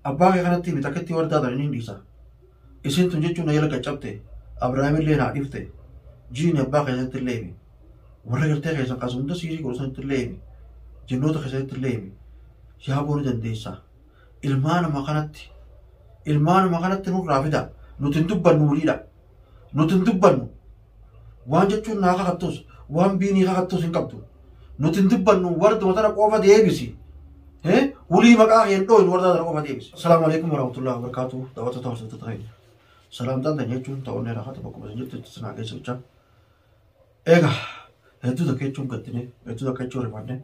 Abbaa kee kanatti himi takkittii wardaa tan hin dhiisa. Isin tun jechuun na jala qaccabte. Abrahaamillee naa dhifte. Jiini abbaa keessatti illee himi. Warra gartee keessan kaasa hunda siirii godhu sanitti illee himi. Jennoota keessanitti illee himi. Yaa boo ni dandeessa. Ilmaa nama kanatti ilmaa nama kanatti nurraa fida. Nuti hin dubbannu waliidha. Nuti hin dubbannu. waan jechuun naa kakattus waan biinii kakattus hin qabdu nuti hin dubbannu warduma tana qofa deebisi Eh, wulii maqaa kee hin dhooynu wardaa tana qofa deebisi asalaamu alaikum warahmatullahi wabarakaatu daawwattoota hordoftoota keenya salaamtaan tan jechuun ta'onnee rakkata bakkuma isin jirtu itti sinaa geessa jechaa eega hedduu takka jechuun gattine hedduu takka jechuun rifanne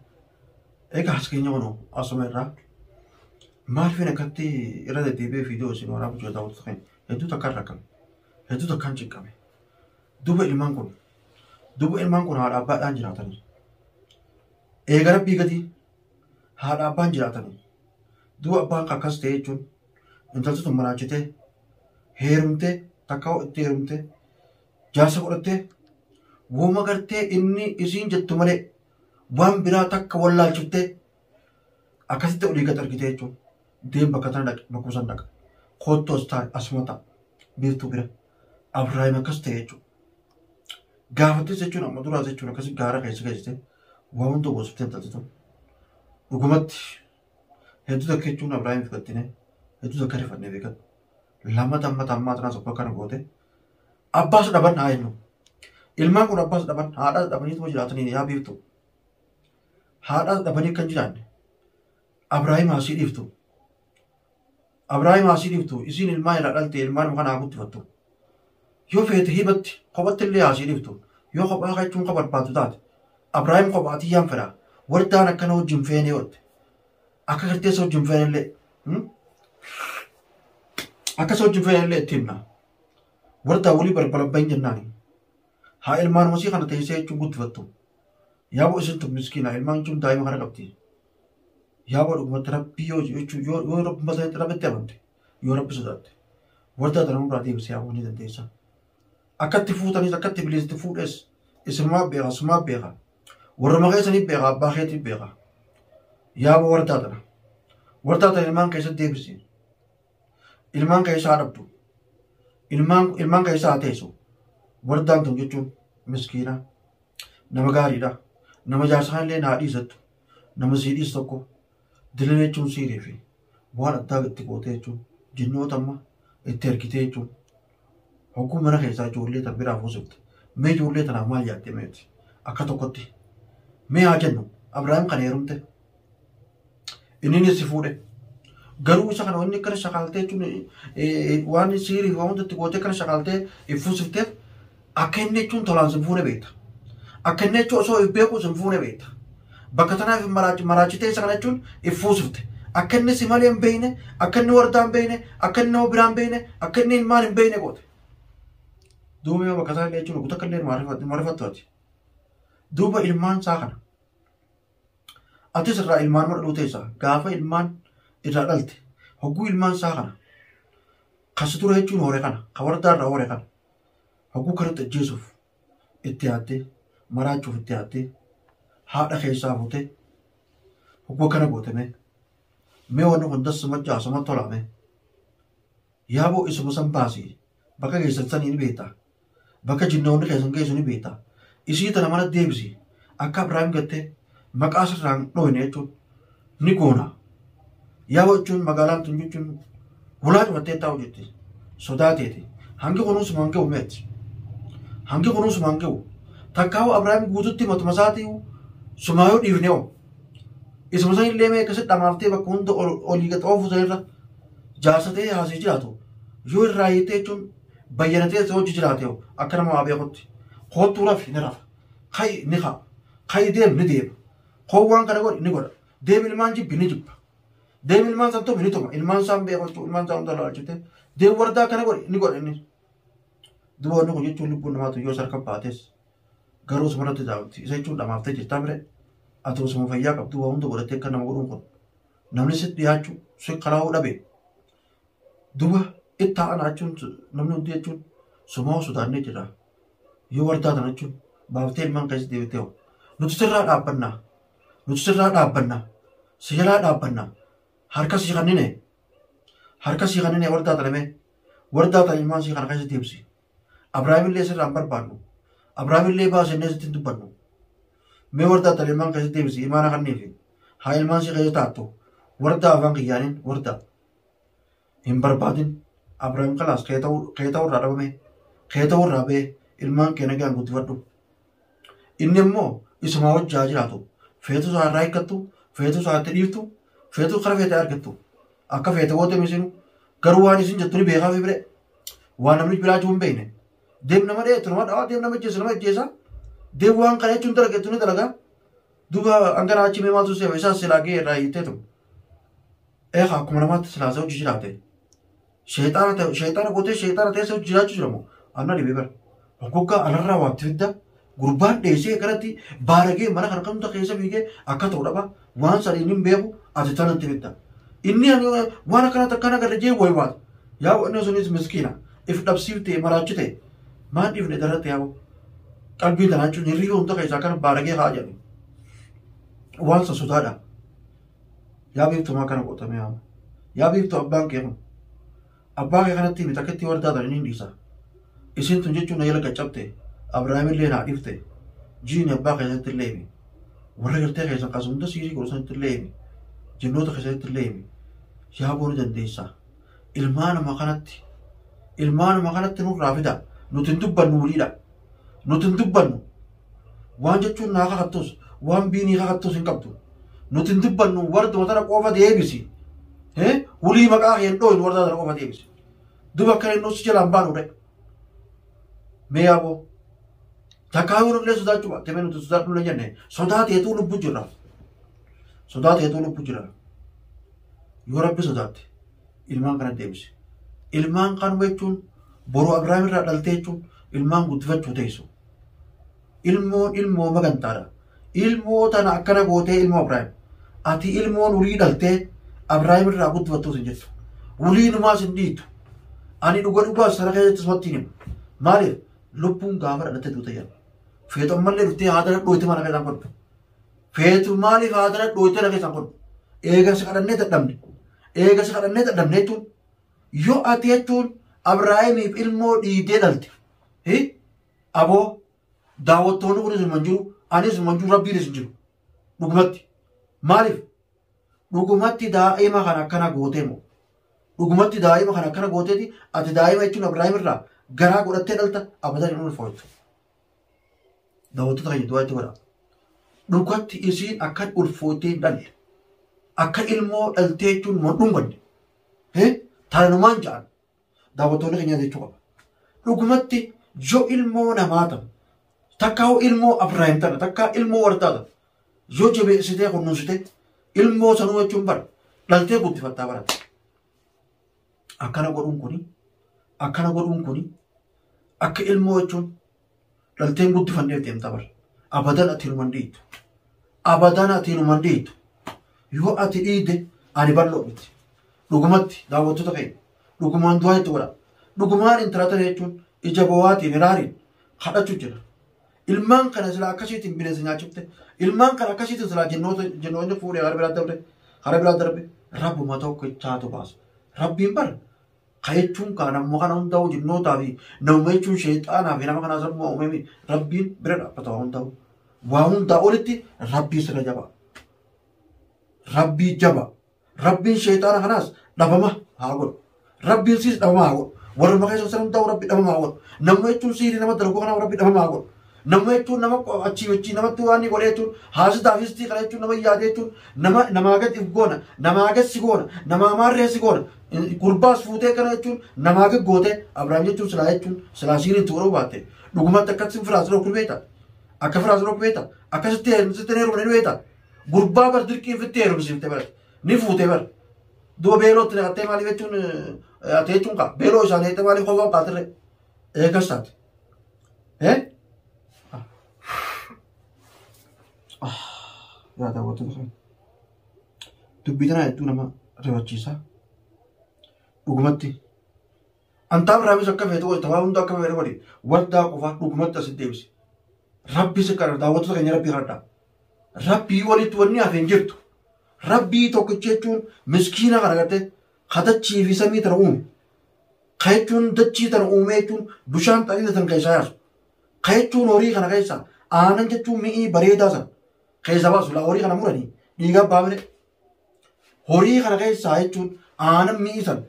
eega as keenya wanu asuma irraa maaliif hin akkatti irra deddeebi'ee fiidiyoo isin waraabuu jira daawwattoota keenya hedduu takka irra kan Hedduu takkaan cinqame. Duuba ilmaan kun duuba ilmaan kun haadha abbaadhaan jiraatanii. Eega rabbii gadi haadha abbaan jiraatanii. Duuba abbaan kan akkas ta'e jechuun intalti tun maraachitee heerumtee takka hoo itti heerumtee jaarsa godhattee wooma gartee inni isiin jettu malee waan biraa takka wallaalchiftee Akkasitti olii gad argitee jechuun deem bakka tana dhaqe bakkuma san dhaqa. Kottu as taa'e asuma ta'a. Biiftuu bira. Abiraayim akkas ta'e jechuudha. Gaafattis jechuun amma duraas jechuun akkasii gaara keessa geessite waa hunda goosiftee intalti tun. Dhugumatti hedduu takka jechuun Abiraayim fudhattine hedduu takka rifannee beekan. Lama tamma tammaa tanaas abbaa kana goote. Abbaas dhaban haa jennu. Ilmaan kun abbaas dhaban haadhaas dhabanii tuma jiraatanii yaa biiftuu. haadhaa dhabanii akka hin jiraanne Abraahim haasii dhiiftu. Abraahim haasii dhiiftu isiin ilmaan irraa dhalte ilmaan muka naa guddifattu. Yoo feete hibatti kophatti illee haasii dhiiftu. Yoo kophaa kachuun akka barbaaddu taate Abraahim kophaatii yaan fedha wardaan akkana wajjin feenee oolte. Akka kirteessa wajjin feenee illee akkas wajjin feenee illee itti himna. Wardaa walii balbala bahin jennaani. Haa ilmaan masii kana teessee jechuun guddifattu. Yaaboo isin tun miskiina ilmaan tun daa'ima kana qabdi. Yaaboo dhugumatti rabbii yoo jechuun yoo yoo rabbuma sanatti rabbitti amante yoo rabbi sodaatte wardaa tana nurraa deebisee yaaboo ni dandeessa. Akkatti fuutanis akkatti biliisitti fuudhes isinumaa beeka sumaa beeka warruma keessanii beeka abbaa keetii beeka. Yaaboo wardaa tana wardaa tana ilmaan keessatti deebisi. ilmaan keessaa dhabdu ilmaan ilmaan keessaa teessu wardaan tun jechuun miskiina nama gaariidha nama jaarsaa illee naa dhiisattu nama sii dhiis tokko dilii jechuun siirii fi waan addaa itti gootee jechuun jinnoota amma itti ergitee jechuun Hogguu mana keessaa ijoollee tan biraa fuusifte. Mee ijoollee tanaaf maal yaaddee meeti? Akka tokkotti. Mee haa jennu Abrahaam kana heerumte. Inninis si fuudhe. Garuu isa kana wanni akkana shakaaltee jechuun eh, eh, waan siirii fi waan hundatti gootee akkana shakaaltee if fuusifteef Akka inni jechuun tolaan sin fuune beekta. Akka inni jechuun osoo if beekuu sin fuune beekta. Bakka tanaaf hin maraachi maraachitee isa kana jechuun if fuusifte. Akka inni si malee hin beekne, akka inni wardaa hin beekne, akka inni nama biraa hin beekne, akka inni ilmaan hin beekne goote. Duuba yoo bakka isaa illee jechuun guutakka illee marifattu ati. Duuba ilmaan isaa kana. Atis irraa ilmaan mana dhuutee isaa gaafa ilmaan irraa dhalte hogguu ilmaan isaa kana. Kasi ture jechuun hoore kana, ka wardaa irraa hoore kana. hogguu kanatti ajjeesuuf itti yaattee maraachuuf itti yaattee haadha keessaa fuutee hogguu kana gootemee mee wanni kun dassi machaa suma tolaame yaaboo isuma san baasii bakka keessan sanii ni beektaa bakka jinnoonni keessan geessu ni beektaa isii tana mana deebisi akka Abiraam gattee maqaa sirraan dhooyne jechuun ni goona. Yaa jechuun magaalaan tun jechuun hulaa cufattee taa'u jetti sodaa teeti hangi kunuunsi waan ga'u meetti. Hangi kunuunsi waan ga'u takkaa'u Abiraam guututti matuma isaatii sumaayoo dhiifnee oo. Isuma san illee mee akkasitti dhamaaftee bakka hunda olii gad oofuu sanirra jaarsatee haasee jiraatu yoo irraa hiittee jechuun bayyanatee si hojji jiraate hoo akka nama waa beekutti koottuu rafi ni rafa ka'i ni ka'a ka'i deem ni deema koo waan kana godhi ni godha deem ilmaan jibbi ni jibba deem ilmaan san tumi ni tuma ilmaan isaan beeku jechuudha ilmaan isaan hunda laalchitee deem wardaa kana godhi ni godha inni duba wanni kun jechuun lubbuun namaatu yoo sarka baates garuu suma irratti daawwatti isa jechuun dhamaaftee jirtaa mire ati osuma fayyaa qabdu waa hunda godhattee akka nama godhuun kun namni sitti dhiyaachuu si kalaa'uu dhabe duba ittaa ana jechuun namni hundi jechuun somaa sodaannee jira yoo wardaa tana jechuun baaftee ilmaan keessa deebitee hoo nuti sirraa dhaabbannaa nuti sirraa dhaabbannaa si jalaa dhaabbannaa harka si kannine harka si kannine wardaa tana mee wardaa tana ilmaan si kana keessa deebisi. Abrahaamillee sirraan barbaannu. Abrahaamillee baasennee sitti dubbannu. Mee warda attal ilmaan keessatti deebisi imaana kanniifi. Haa ilmaan si keessa taattu. Warda afaan kiyyaaniin warda. Hin barbaadin. Abrahaam kalaas kee ta'uu irraa dhabame. Kee ta'uu irraa ba'e ilmaan kee nagaan guddifadhu. Inni immoo isumaa wajji haa jiraatu. Feetu isaa irraa hiikkattu, feetu isaa itti dhiiftu, feetu kara feete argattu. Akka feete goote misinu garuu waan isin jettu ni beekaa fi bire. Waan namni biraa jiru hin beekne. Deem nama dha'eetu nama dha'a, deem nama ajjeesu nama ajjeesa. Deem waan kana jechuun dalageetu ni dalaga. Duuba hanga naa achi mee maaltu seema isaas silaa gahee irraa hiitteetu. Eegaa akkuma namaatti silaasa hojii jiraate. Sheexaana ta'e sheexaana gootee sheexaana ta'e soo jiraachuu jira moo anna dhibee bara. Hoggoggaa anarraa waatti fidda gurbaan dheessee kanatti baaragee mana kana kamta keessa fiigee akka ta'u dhaba waan sanii hin beeku ati tanatti fidda. Inni ani waan akkanatti akkaan agarra jee wayi waata. Yaa inni sunis miskiina if dhabsiiftee maraachite maan dhiifne darratti yaa qalbii tanaa jechuun hirriba hunda keessaa akkana baaragee haa jedhu. Waan sassotaadha. Yaa biiftu maa kana goota mee amma. Yaa biiftu abbaan kee kun. Abbaa kee kanatti miti akkatti wardaa tan inni dhiisa. Isin tun jechuun na jala qaccabte. Abrahaamillee naa dhifte. Jiini abbaa keessatti illee himi. Warra gartee keessan kaasa hunda siirii godhu sanitti illee himi. Jennoota keessanitti illee himi. Yaa booni dandeessa. Ilmaa nama kanatti. Ilmaa nama kanatti nurraa fida. Nuti hin dubbannu waliidha. Nuti hin dubbannu. Waan jechuun naa kakattus, waan biinii kakattus hin qabdu. Nuti hin dubbannu warduma tana qofa deebisi. Eh, Hulii maqaa kee hin dhooynu wardaa tana qofa deebisi. Duba akka inni si jalaan baanu dha'i. Mee yaaboo. Takkaa yoo nullee sodaachuu baatte mee nuti sodaadhu hin jenne. Sodaa teetuu lubbu jirra. Sodaa teetuu lubbu jirra. Yoo rabbi sodaatte ilmaan kana deebisi. Ilmaan kanuma jechuun boruu Abiraam irraa dhaltee jechuun ilmaan guddifachuu teessu. ilmoon ilmoo magantaadha ilmoo tana akkana gootee ilmoo abraahim ati ilmoon urii dhaltee abraahim irraa guddifattuus hin jettu ulii numaas hin dhiitu ani dhuga dhugaa sana keessatti isumatti hin himu maaliif lubbuun gaafa dhalatte duuta jedha feetu ammallee dhuftee haadara dhooyte mana keessaan godhu feetu maaliif haadara dhooyte na keessaan godhu eega si kadhannee dadhabne eega si kadhannee dadhabne jechuun Yoo ati jechuun Abrahaamiif ilmoo dhiidee dhalte. Hi? Aboo daawwattoonni kunis hin jiru, anis hin jiru, rabbiinis hin jiru. Dhugumatti. Maaliif? Dhugumatti daa'ima kan akkana gootee moo? Dhugumatti daa'ima kan akkana gooteeti ati daa'ima jechuun Abrahaam irraa garaa godhattee dhalta abadan hin ulfooftu. Daawwattoota keenya du'aa itti godha. Dhugatti isiin akkan ulfootee hin dhalle. Akka ilmoo dhaltee jechuun hin dhunganne. Tananumaan ja'an daawwattoonni keenya jechuu qaba. Dhugumatti yoo ilmoo namaa ta'u takka hoo ilmoo Abiraahim ta'e takka ilmoo wardaa ta'e yoo jabeessitee kunuunsite ilmoo sanuu jechuun bara dhaltee guddifattaa barata. Akkana godhuun kuni akkana godhuun kuni akka ilmoo jechuun Dhalteen guddifannee deemta bar. Abadan ati numan dhiitu. Abadan ati numan dhiitu. Yoo ati dhiide ani bal'oo miti. Dhugumatti daawwattoota keenya dhugumaan du'aa itti godha. Dhugumaan intala tana jechuun ija bowaatiin hiraariin kadhachuu jira. Ilmaan kana silaa akkasiitiin bineensa nyaachifte. Ilmaan kana akkasiitiin silaa jinnoota jinnoonni fuudhee hara biraa darbe hara biraa darbe rabbuma tokkichaatu baasa. Rabbiin bara Ka jechuun kaa namuma kana hundaa'u jinnootaa fi namuma jechuun sheexaanaa fi nama kanaa sammuu uumame rabbiin bira dhaabbata waa hundaa'u. Waa hundaa olitti rabbiin sirra jaba. Rabbii jaba. Rabbiin sheexaana kanaas dhabama haa godhu. Rabbiin siis dhabama haa godhu. Warruma keessa sana hundaa'u rabbi dhabama haa godhu. Namuma jechuun sihirii nama dalaguu kanaaf rabbi dhabama haa godhu. Nama jechuun nama achii wajjin namatti waan ni godhe jechuun haasitaa fi histii kana jechuun nama yaade jechuun nama namaa gad if goona namaa gad si goona namaa maarree si goona gurbaas fuutee kana jechuun namaa gad gootee Abiraam jechuun silaa jechuun silaa siiriin itti godhuu baatte dhugumatti akkatti firaas dhokku beekta akka firaas dhokku beekta akkasitti heerumsitti heerumne ni beekta gurbaa bar dirqiin fitti heerumsiifte bar ni fuutee bar duuba beelootti naqattee maaliif jechuun ati jechuun kaa beeloo isaanii jettee maaliif hofaa kaatirre eegas taate. Eh? Yaa daawwattoota keenya. Dubbii tanaa hedduu nama rifachiisa. Dhugumatti. Antaaf raabis akka feetu wayita waa hunda akka feetu godhi. Waldaa qofaa dhugumatti asitti deebise. Rabbi si kadhata daawwattoota keenya rabbi kadhadha. Rabbii walitti wanni hafe hin jirtu. Rabbii tokkicha jechuun miskiina kana gartee kadachii fi samii tana uume. Ka jechuun dachii tana uumee jechuun bishaan xaliila san keessaa yaasu. Ka jechuun horii kana keessaa aanan jechuun mi'ii bareedaa san keessaa baasu. Laa horii kana muranii dhiigaa baamire. Horii kana keessaa jechuun aanan mi'ii san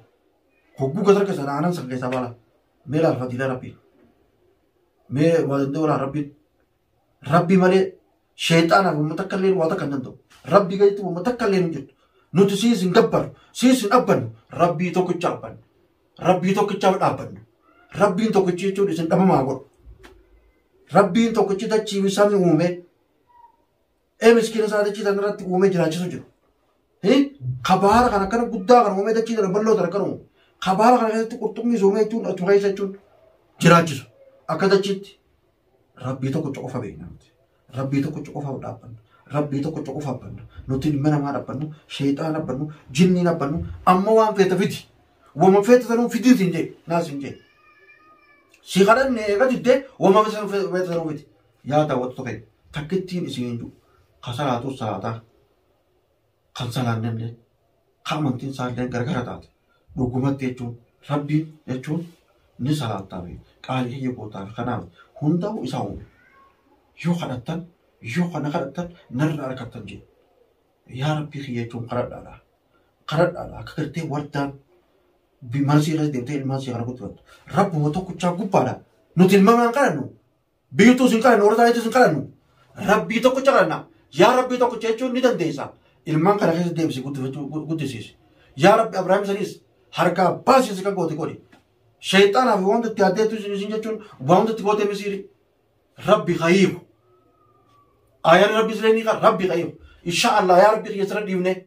hogguu gasar keessan aanan san keessaa baala. Mee laal fadiila rabbii. Mee waa danda'u laal rabbiin. Rabbii malee Sheexaanaaf wamma takka illee waa takka hin danda'u. Rabbii gaditti wamma takka illee hin jirtu. Nuti siis hin gabbarru, siis hin abbannu. Rabbii tokkicha abbanna. Rabbii tokkichaaf dhaabbanna. Rabbiin tokkichi jechuun isin dhabamaa godhu. Rabbiin tokkichi dachii fi samii uumee ee miskiina isaa dachii sana irratti uumee jiraachisu jiru. Kabaara kan akkana guddaa kan uumee dachii sana bal'oo sana kan uumu. Kabaara kana keessatti qurxummii uumee jechuun achuma keessa jechuun jiraachisu. Akka dachiitti rabbii tokkocha qofa beekna nuti rabbii tokkocha qofa dhaabbanna rabbii tokkocha qofa abbanna nuti ilma namaa dhabbannu sheexaan abbannu jinniin abbannu amma waan feeta fidi wama feeta sanuu fidii siin jee naa siin jee si kadhanne eega diddee wama feeta sanuu fidi yaa daawwattu tokko takkittiin isiin hin jiru kasalaatu salaataa kan salaannellee, ka amantiin isaallee gargara taate, dhugumatti jechuun Rabbiin jechuun ni salaattaa fi qaalii kiyya gootaa fi kanaaf hundaa'u isaa uume. Yoo kadhattan, yoo kana kadhattan narra arkattan jedhe. Yaa Rabbii kiyya jechuun kadhadhaadha. Kadhadhaadha akka gartee wardaan bimarsii irratti deemtee ilmaan sii kana guddifattu. Rabbuma tokkichaa gubbaadha. Nuti ilmamaan kadhannu Biyyuutu isin kadhannu, warra isaaniitu isin kadhannu. Rabbii tokkicha kadhanna. Yaa Rabbii tokkicha jechuun ni dandeessa. Ilmaan kana keessa deebisi guddisiisi. Yaa Rabbi Abrahaam isanis harkaa baasiisi kan goote godhi. Sheexaanaa fi wanta itti addeettu isin jechuun wanta itti goote misiiri. Rabbi hayiiku. Ayaan Rabbi siree ni qaba. Rabbi hayiiku. Inshaa Allah yaa Rabbi kiyya sirra dhiibnee.